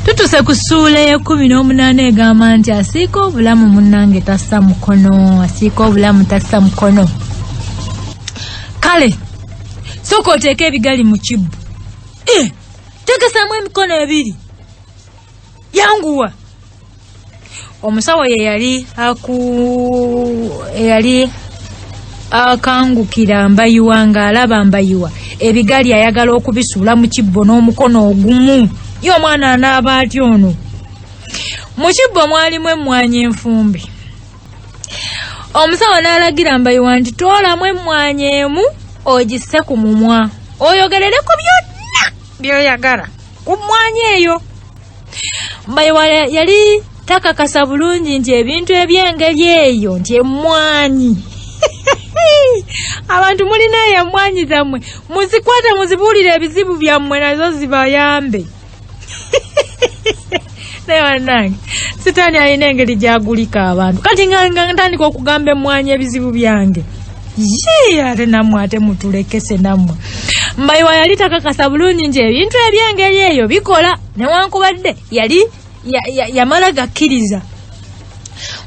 tutuse ku ssuula ey'ekkumi n'omunaana egamba nti asiika obulamu munnange tassa mukono asiika obulamu tassa mukono kale sooka oteeka ebigali mu kibbu eh, tekesamu emikono ebiri yanguwa omusawo ye yali aku eyali akangukira mbayiwa ng'alaba mbayiwa ebigali ayagala okubisuula mu kibbo n'omukono ogumu ye omwana anaaba aty ono mu kibbo mwalimu emmwanyi enfumbi omusawo n'alagira mbayiwa nti toolamu emmwanyi emu ogisse ku mumwa oyogerere ku byonna byoyagala ku mmwanyi eyo mbayiwa yali takakasa bulungi nti ebintu eby'engeri eyo nti emmwanyi abantu mulina eyo emmwanyi zammwe muzikwate muzibuulire ebizibu byammwe nazo zibayambe naye banange sitaani alina engeri gyagulika abantu kati nga ntandika okugamba emmwanyi ebizibu byange yii ate namwe ate mutulekese namwe mbayiwa yali takakasa bulungi nti ebintu ebyengeri eyo bikola newankubadde yali yamala gakkiriza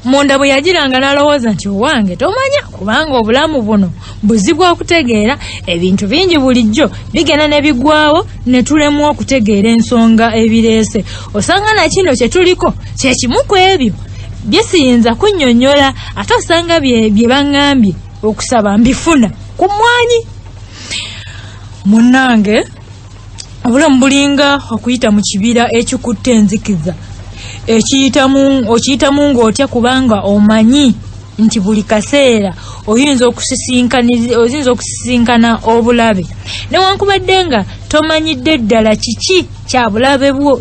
munda bwe yagiranga n'alowooza nti owange tomanya kubanga obulamu buno buzi bwa kutegeera ebintu bingi bulijjo bigenda ne bigwawo ne tulemu okutegeera ensonga ebireese osanga na kino kye tuliko kye kimu ku ebyo bye siyinza kunnyonnyola ate osanga bye baŋŋambye okusaba mbifuna ku mmwanyi munnange obulamu bulinga okuyita mu kibira ekikutte enzikiza okiyitamu ng'otya kubanga omanyi nti buli kaseera oyinza okusisinkana obulabe newankubadde nga tomanyidde ddala kiki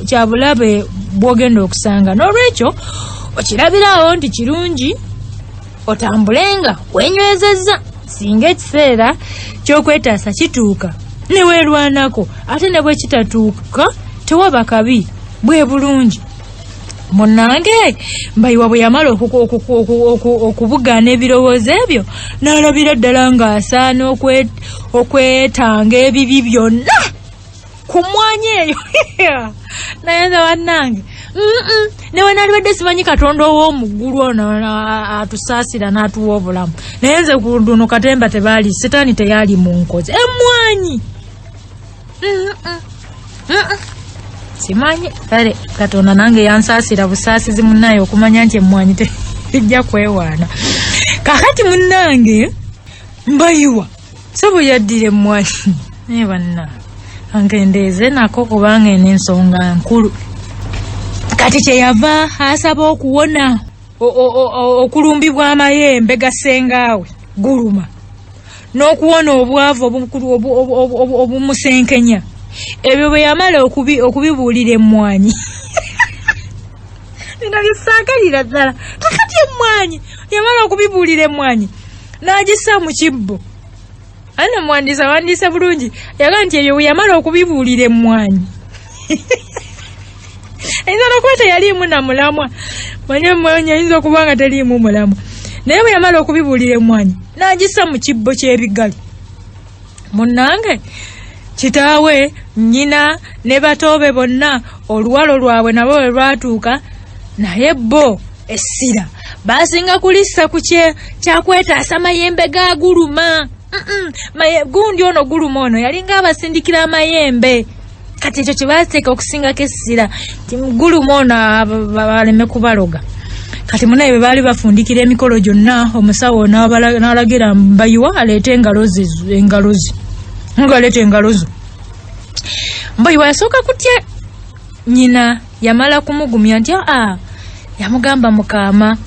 kyabulabe bwogenda okusanga n'olwekyo okirabiraawo nti kirungi otambulenga wenywezezza singa ekiseera kyokwetaasa kituuka newerwanako ate ne bwe kitatuuka tewaba kabi bwe bulungi munange mbayiwa bwe yamala okubugaana ebirowoozo ebyo n'alabira ddala ng'asaana okwetanga ebibi byonna ku mmwanyi eyo naye nze bannange mm-mm. ne bwe nalibadde simanyi katonda ow'omuggulu ono atusaasira n'atuwa obulamu naye nze ku luno katemba tebaali sitaani teyaali mu nkozi emmwanyi simanyi kale katonda nange yansaasira busaasizi munnaye okumanya nti emmwanyi tejja kwewaana kakati munnange mbayiwa sebo yaddira emmwanyi naye banna angendeeze nako kubanga eno ensonga nkulu kati kyeyava asaba okuwona okulumbibwa amayembe gasengaawe guluma n'okuwona obwavu obumusenkenya ebyo bwe yamala okubibuulira emmwanyi bino bisaakalira ddala kakati emmwanyi yamala okubibuulira emmwanyi n'agissa mu kibbo ani omuwandiisi awandiise bulungi yaga nti ebyo bwe yamala okubibuulira emmwanyi ayinza n'okuba teyaliimu na mulamwa manye emmwanyi ayinza okuba nga teriimu mulamwa naye bwe yamala okubibuulira emmwanyi n'agissa mu kibbo ky'ebigali munnange kitaawe nnyina ne batoobe bonna oluwalo lwabwe nabo bwe lwatuuka naye bo essira baasinga kulissa ku kyakwetaasa mayembe gaaguluma gundi ono guluma ono yalinga abasindikira amayembe kati ekyo kyebateeka okusingako essira ti mugulumu ono baleme kubaloga kati munaye bwe baali bafundikira emikolo gyonna omusawo n'alagira mbayiwa aleete engalozi engalozi ngaleeta engalozo mbayiwa yasooka kutya nyina yamala kumugumya nti aa yamugamba mukaama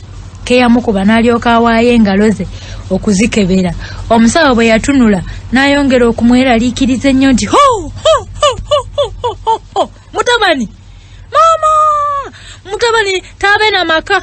keyamukuba n'alyoka awaayo engalo ze okuzikebera omusawo bwe yatunula n'ayongera okumweraliikiriza ennyo nti ho mutabani maama mutabani taabe na maka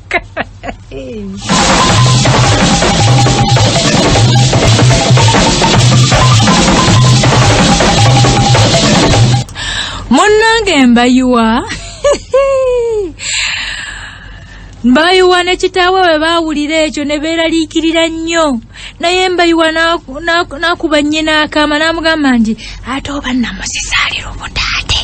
munnange mbayiwa mbayiwa ne kitaawe bwe baawulira ekyo ne beeraliikirira nnyo naye mbayiwa n'akuba nnyina akaama n'amugamba nti ate oba nnamusiza ali lubuta ate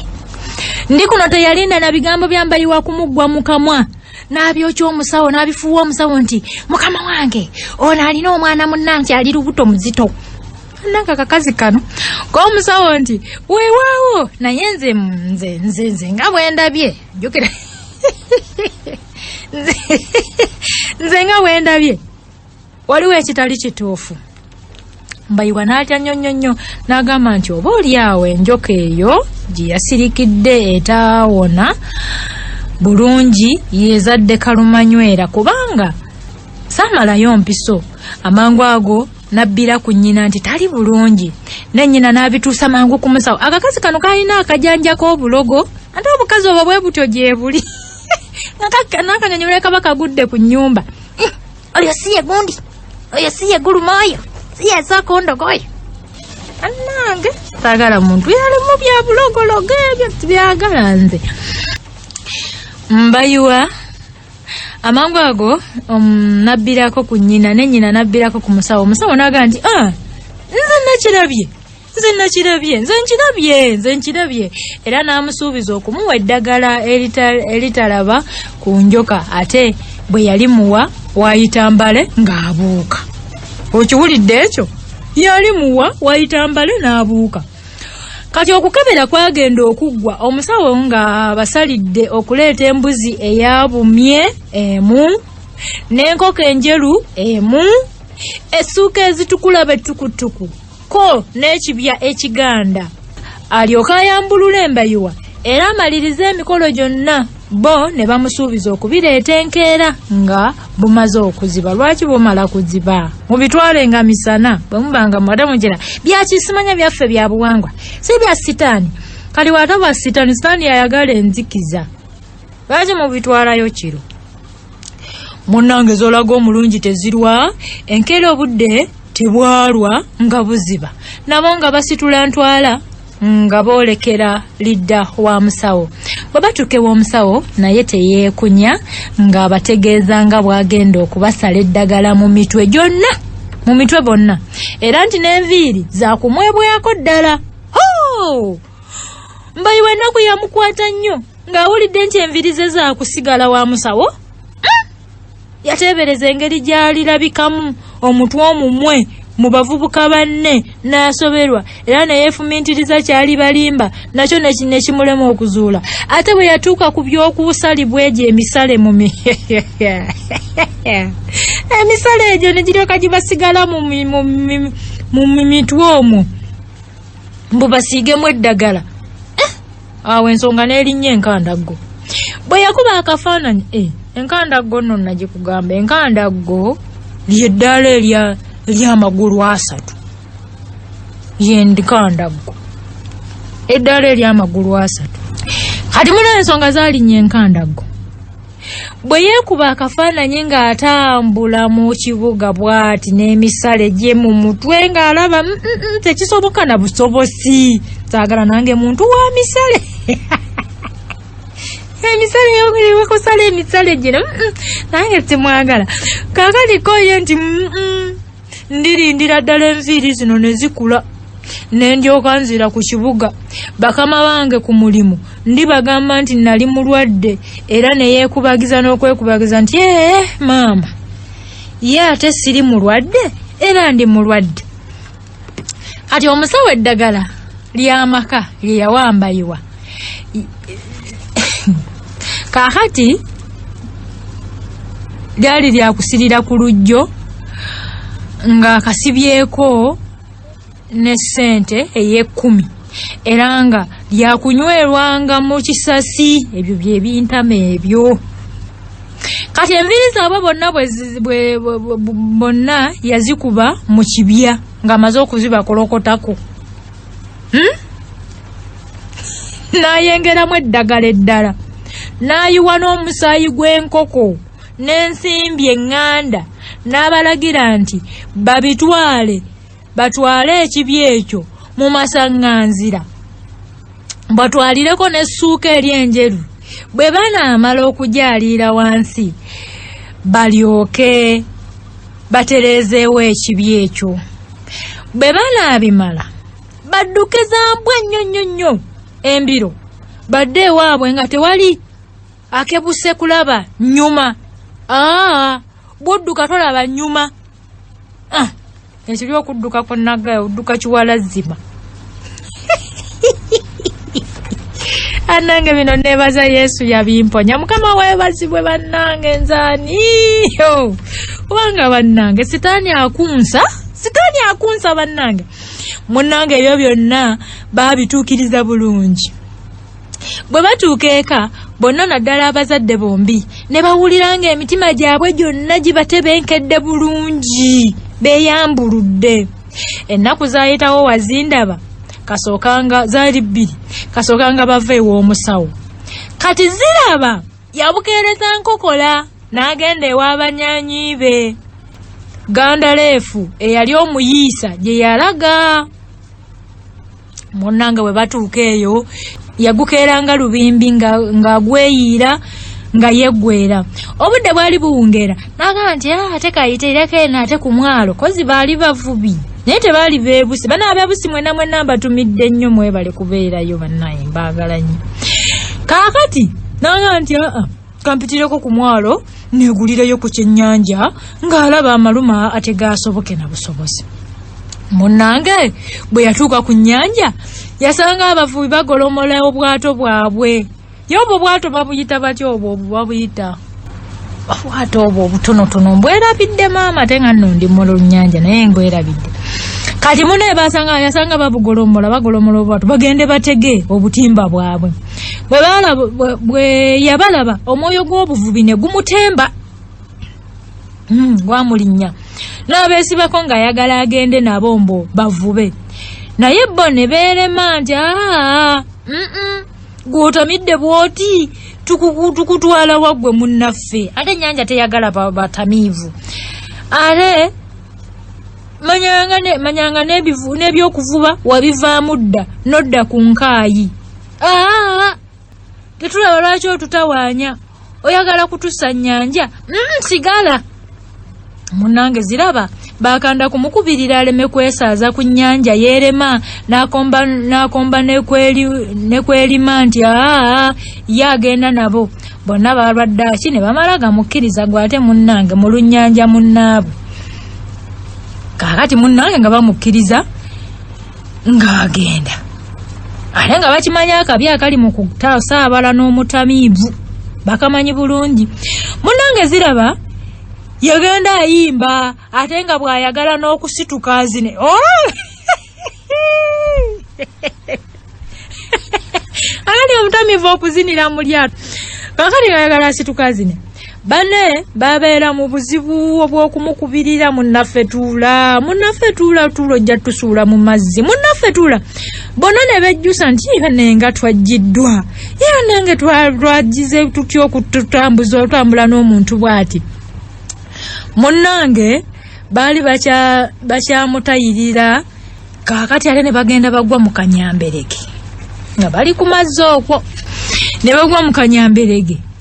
ndi kuno teyalinda na bigambo bya mbayiwa kumuggwa mu kamwa n'abyokya omusawo n'abifuuwa omusawo nti mukama wange ono alina omwana munnange ali lubuto muzito nange akakazi kano komusawo nti wewaawo naye nze nze nze nze nga bwendabye jukira nze nga bwendabye waliwo ekitali kituufu mbayiwa n'atya nnyo nnyo nnyo n'agamba nti oba oli awo enjoka eyo gye yasirikidde etaawona bulungi yezadde kalumanywera kubanga saamalayo mpiso amangu ago nabbira ku nnyina nti tali bulungi ne nnyina n'abituusa mangu ku musawo akakazi kano kalina akajanja k'obulogo ate obukazi obwo bwe butyo gyebuli nakanyonyola kabaka gudde ku nnyumba Oyo si ye gundi. Oyo si ye guluma oyo. Si ye sooka ondoga oyo. Bannange saagala muntu yali mu bya bulogologo ebyo tibyagala nze. Mbayiwa amangu ago um, nabbirako ku nnyina ne nnyina nabbirako ku musawo omusawo n'agamba nti ah nze nakirabye nze nakirabye nze nkirabye nze nkirabye era n'amusuubiza okumuwa eddagala eritalaba ku njoka ate bwe yali muwa waayita mbale ng'abuuka okiwulidde ekyo yali muwa waayita mbale n'abuuka kati okukebera kwagenda okuggwa omusawo nga basalidde okuleeta embuzi eyabumye emu n'enkoko enjeru emu essuuka ezitukula bettukutuku ko n'ekibya ekiganda alyoke ayambulule embayiwa era amalirize emikolo gyonna bo ne bamusuubiza okubireeta enkeera nga bumaze okuziba lwaki bumala kuziba mubitwale nga misana bwe muba nga mwate mugira byakisimanya byaffe bya buwangwa si bya sitaani kali wata bwa sitaani sitaani yayagala enzikiza lwaki mubitwalayo kiro munange zolaga omulungi tezirwa enkeera obudde tebwalwa nga buziba nabo nga basitula ntwala nga boolekera lidda wa musawo bwe batuuka ew'omusawo naye teyeekunya ng'abategeeza nga bw'agenda okubasala eddagala mu mitwe gyonna mu mitwe bonna era nti n'enviiri zakumwebwako ddala mbayiwa ennaku yamukwata nnyo ng'awulidde nti enviri ze zaakusigala wa musawo hmm? yateebereza engeri gy'alirabikamu omutwe omumwe mu bavubuka banne n'asoberwa era ne yeefumintiriza kyali balimba nakyo ne kimulema okuzuula ate bwe yatuuka ku by'okuusalibwa egyo emisale mu mi emisale egyo ne giryoka gibasigala mu mitwe omwo mbu basiigemu eddagala awo ensonga n'erinnya enkandaggo bwe yakuba akafaananyi e enkandaggo nno nagikugamba enkandaggo lyeddaala erya eryamagulu asatu yendikandaggo eddaala eryamagulu asatu kati muna ensonga zalinnya enkandaggo bwe yeekuba akafaananyi ng'atambula mu kibuga bw'ati n'emisale gye mu mutwe ng'alaba mm, mm, mm, tekisoboka na busobosi saagala nange muntu wa misale emisale yowekusala emisale gino nange simwagala kakaliko ye nti ndirindira ddala enviiri zino ne zikula ne ndyoka nzira ku kibuga bakama bange ku mulimu ndibagamba nti nali mulwadde era ne yeekubagiza n'okwekubagiza nti ee maama ye ate siri mulwadde era ndi mulwadde kati omusawo eddagala ly'amaka lye yawambayiwa kakati lyali lyakusirira ku lujjo nga kasibyeko ne sente eyekumi era nga lyakunywerwanga mu kisasi ebyo byebintama ebyo kati enviiri zaabwe bonna bonna yazikuba mu kibya ng'amaze okuzibakolokotako hmm? n'ayengeramu eddagala eddala n'ayiwa n'omusaayi gw'enkoko n'ensimbi eŋŋanda n'abalagira nti babitwale batwale ekibi ekyo mu masaŋŋanzira batwalireko n'essuuka eri enjeru bwe banaamala okugyaliira wansi balyoke batereezeewo ekibi ekyo bwe banaabimala badduke zambwa nnyo nnyo nnyo embiro badde ewaabwe nga tewali akebuse kulaba nnyuma aa bwodduka tolaba nnyuma ah, ekiri okudduka ku naggayo odduka kiwala zzima anange bino nebaza yesu yabimponya mukama webazibwe bannange nzaniyo kubanga bannange sitaani akunsa sitaani akunsa bannange munange ebyo byonna babituukiriza bulungi bwe batuuka eka bonna naddala abazadde bombi ne bawulira nga emitima gyabwe gyonna gibatebenkedde bulungi beyambuludde ennaku zayitawo wazindaba kasookanga zaali bbiri kasookanga bava ew'omusawo kati ziraba yabukeereza nkokola n'agenda ew'abanyanyi be gandaleefu eyali omuyiisa gye yalaga munange bwe batuuka eyo yagukeeranga lubimbi ng'agweyiira nga nga yeggwera obudde bwali buwungeera n'agamba nti ah, ate kayiteereko eno ate ku mwalo kozi baali bavubi naye tebaali beebusi bana abeebusi mwena mwena mbatumidde nnyo mwebale kubeerayo banaye mbaagala nnyo kaakati n'agamba nti aa ah, ah. kampitireko ku mwalo negulireyo ku kyennyanja ng'alaba amaluma ate gaasoboke na busobozi munnange bwe yatuuka ku nnyanja yasanga abavubi bagolomola obwato bwabwe ye obwo bwato babuyita batya obwo obwo babuyita obwato obwo obutonotono mbwerabidde maama ate nga nno ndi mulunnyanja naye ngwerabidde kati mune basanga yasanga babugolomola bagolomola obwato bagende batege obutimba bwabwe bwe yabalaba omwoyo gw'obuvubi ne gumutemba hmm, gwamulinnya n'abeesibako ng'ayagala agende nabo mbu bavube naye bo ne beerema nti aa gw'otamidde bw'oti tukutwala waggwe munnaffe ate ennyanja teyagala batamiivu ate manyanga n'ebyokuvuba wabivaamu dda n'odda ku nkaayi tetulaba lwaki otutawaanya oyagala kutusa nyanja mm, sigala munange ziraba bakanda kumukubirira aleme kwesaaza ku nyanja yerema nakomba nakomba nekweli nekwelima nti aa ye agenda nabo bonna balwadde aki ne bamala gamukkiriza gwe ate munnange mu lunnyanja munnaabwe kaakati munnange nga bamukkiriza ng'agenda ate nga bakimanyi akabi akali mu kutaasa abala n'omutamiivu bakamanyi bulungi munange ziraba yagenda ayimba ate nga bw'ayagala n'okusituka azine oh! anani omutamiivu okuzinira mu lyato kakati ngayagala asituka azine bane babeera mu buzibu obw'okumukubirira munnaffe tuula munnaffe tuula tuula ojja tusuula mu mazzi munnaffe tuula bona ne bejjusa nti ibe nenga twajjiddwa ibe nenge twagize tutya okututambuza otambula n'omuntu bw'ati munnange baali bakyamutayirira kaakati ate ne bagenda bagwa mu kanyamberege nga bali ku mazzi okwo ne bagwa mu kanyamberege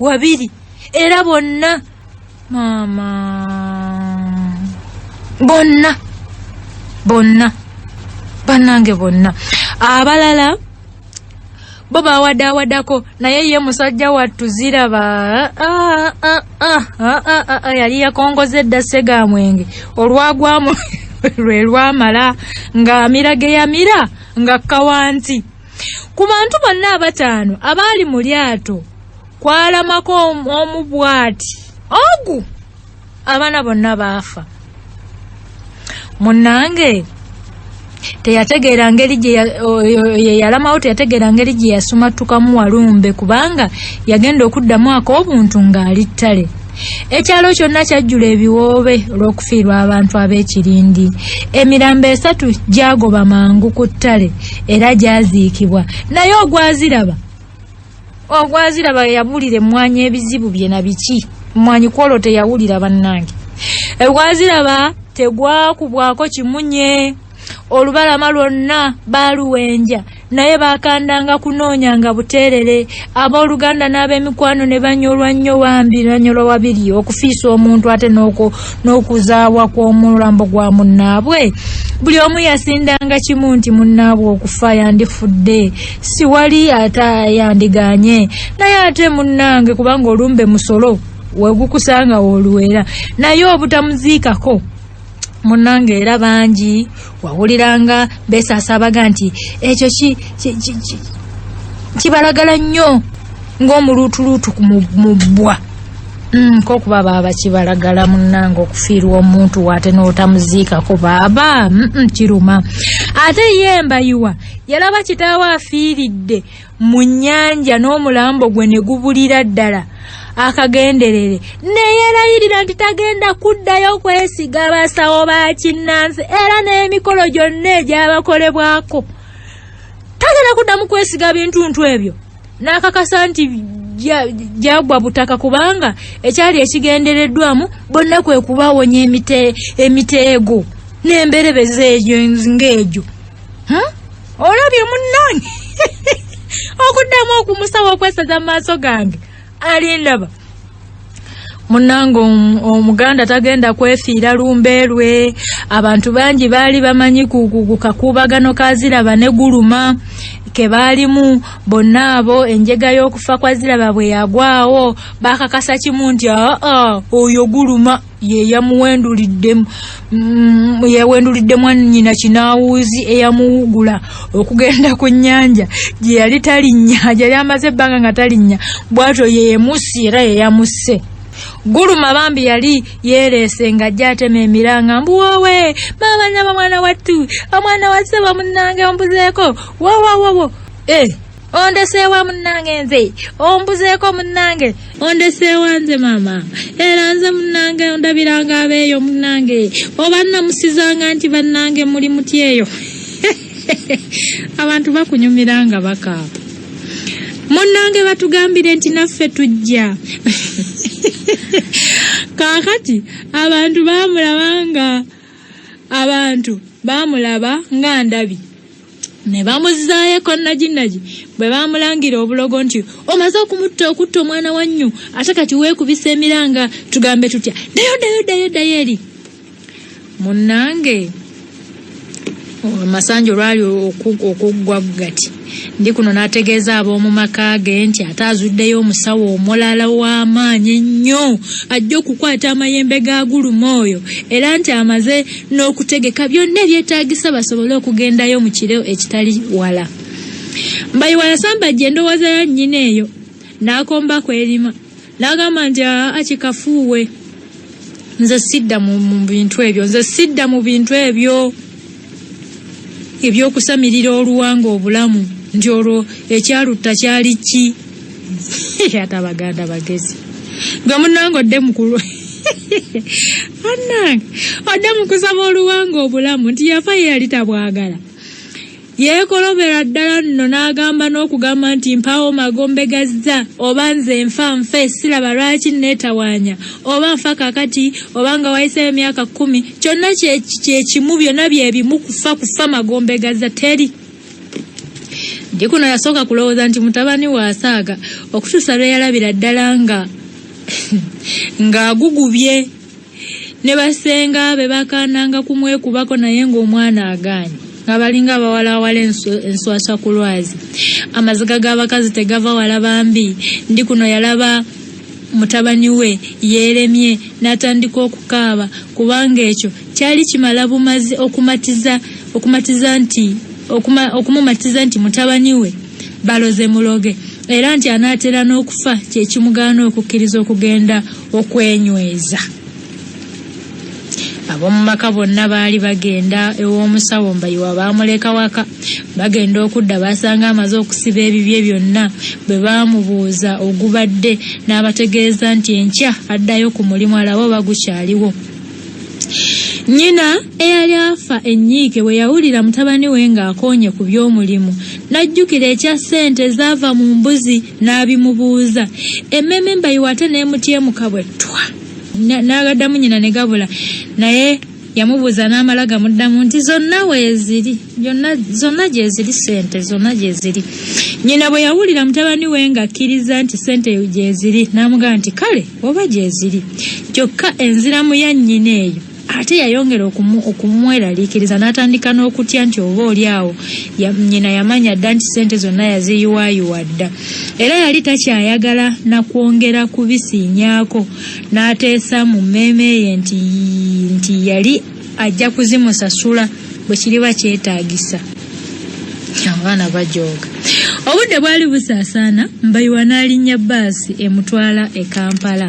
wabiri era bonna maama bonna bonna bannange bonna abalala bo bawadawadako naye ye musajja wattu ziraba ah, ah, ah, yali yakongoza edda segamwenge olwagwamu lwe lwamala ng'amira ge yamira nga kawanti ku bantu bonna abataano abaali mu lyato kwalamako omu bwati ogu abaana bonna baafa munnange teyategeera ngeri gyeyalamawo teyategeera ngeri gye yasumattukamu walumbe kubanga yagenda okuddamu ak'obuntu ng'ali ttale ekyalo kyonna kyajjula ebiwoobe olw'okufiirwa abantu ab'ekirindi emirambo esatu gyagoba mangu ku ttale era gyaziikibwa naye ogwaziraba ogwaziraba yabulira emmwanyi ebizibu bye na biki mmwanyi kwolwo teyawulira bannange egwaziraba tegwakubwako kimunye olubalama lwonna baaluwenja naye baakandanga kunoonya nga buteerere abooluganda n'ab'emikwano ne banyolwa nnyo wambi banyolwa wabiri okufiisa omuntu ate n'okuzaawa kw'omulambo gwa munnaabwe buli omu yasindanga kimu nti munnaabwe okufa yandifudde siwali ate yandiganye naye ate munnange kubanga olumbe musolo wegukusanga woluwera naye obutamuziikako munange era bangi wawuliranga besasaabaga nti ekyo kibalagala nnyo ng'omuluutuluutu mubbwa mm, kokuba baaba kibalagala munange okufiirwa omuntu waate n'otamuziikako baaba kiruma ate ye mbayiwa yalaba kitaawo afiiridde mu nnyanja n'omulambo gwe ne gubulira ddala akagenderere neyerayirira nti tagenda kuddayo kwesiga basawo ba kinnansi era n'emikolo gyonna egyabakolebwako tagenda kuddamu kwesiga bintuntu ebyo n'akakasa nti gyagwa butaka kubanga ekyali ekigendereddwamu bonna kwe kubawonya emiteego n'emberebeza egyo ng'egyo hmm? olabye munnange okuddamu okumusaba okwesaza mu maaso gange alindaba munange omuganda tagenda kwefiira lumbe lwe abantu bangi baali bamanyi kukakubagano kaziraba ne guluma kebaalimu bonna abo enjega y'okufa kwa ziraba bwe yagwawo bakakasa kimu nti aa oyo guluma yeyamuwendulidde mm, yawendulidde mwannyina kinaawuuzi eyamuwugula okugenda ku nnyanja gye yali talinnya gyali amaze ebbanga nga talinnya bwatyo yeyemusi era yeyamusse guluma bambi yali yereese nga ajja atema emiranga mbu wowe maama nyaba mwana wattu omwana wa ssebo munnange ombuzeeko wowowowo e eh, ondeseewa munnange nze ombuzeeko munnange ondeseewa nze maama era nze munnange ondabiranga abeeyo munnange oba namusizanga nti bannange muli muti eyo abantu bakunyumira nga baka munnange batugambire nti naffe tujja kaakati abantu baamulaba nga abantu baamulaba nga ndabi ne bamuzzaayo ekonnajinnaji bwe baamulangira obulogo nti omaze okumutta okutta omwana wa nnyo ate kati weekubisa emiranga tugambe tutya ddayo ddayo ddayo ddayo eri munnange amasanja olwali okuggwa gati ndi kuno n'ategeeza ab'omu maka ge nti ate azuddeyo omusawo omulala w'amaanyi ennyo ajja okukwata amayembe ga guluma oyo era nti amaze n'okutegeka byonna ebyetaagisa basobole okugendayo mu kiro ekitali wala mbayiwa yasambajja endowooza ya nnyina eyo n'akomba kwerima n'agamba nti aa kikafuuwe nze sidda mu bintu ebyo nze sidda mu bintu ebyo ebyokusamirira oluwanga obulamu nti olwo ekyalutta kyali ki ate abaganda bagezi gwe munange odde mukulu anange odde mukusaba oluwanga obulamu nti yafa ye yali tabwagala yeekolobera ddala nno n'agamba n'okugamba nti mpaawo magombe gazza oba nze nfa nfe siraba lwaki neetawaanya oba nfa kakati oba nga wayiseeyo emyaka kkumi kyonna kyekimu byonna bye bimu kufa kufa magombe gazza teri Jikuno yasooka kulowooza nti mutabani we asaaga okutuusa lwe yalabira ddala nga ng'agugubye ne basenga be bakaananga kumwekubako naye ng'omwana agaanyi nga balinga abawalaawala enswaswa ku lwazi amaziga g'abakazi tegava wala bambi ndi kuno yalaba Mutabani we yeeremye n'atandika okukaaba kubanga ekyo kyali kimala bumazi okumatiza okumatiza nti okuma, okumumatiza nti mutabani we baloze muloge era nti anaatera n'okufa kye kimugaana okukkiriza okugenda okwenyweza. Ab'omu maka bonna baali bagenda ew'omusawo Mbayiwa baamuleka waka. Bagenda okudda baasanga amaze okusiba ebibye byonna bwe baamubuuza ogubadde n'abategeeza nti enkya addayo ku mulimu alabe oba gukyaliwo. Nnyina eyali afa ennyiike bwe yawulira mutabani we ng'akoonye ku by'omulimu n'ajjukira ekya ssente ezaava mu mbuzi n'abimubuuza. Emmeeme Mbayiwa ate n'emutyemuka bwe ttwa. n'agaddamu nyina ne gabula naye yamubuuza n'amala gamuddamu nti zonna weeziri zonna gyeziri sente zonna gyeziri nyina bwe yawulira mutabani we ng'akkiriza nti sente gyeziri n'amugamba nti kale oba gyeziri kyokka enziramu ya nyina eyo ate yayongera okumweraliikiriza n'atandika n'okutya nti oba oli awo nnyina yamanya dda nti ssente zonna yaziyiwaayiwa dda era yali takyayagala na kwongera kubisiinyaako n'ateesa mu mmeeme ye nti nti yali ajja kuzimusasula bwe kiriba kyetaagisa abaana bajooga obudde bwali busaasaana mbayiwa n'alinnya bbaasi emutwala e kampala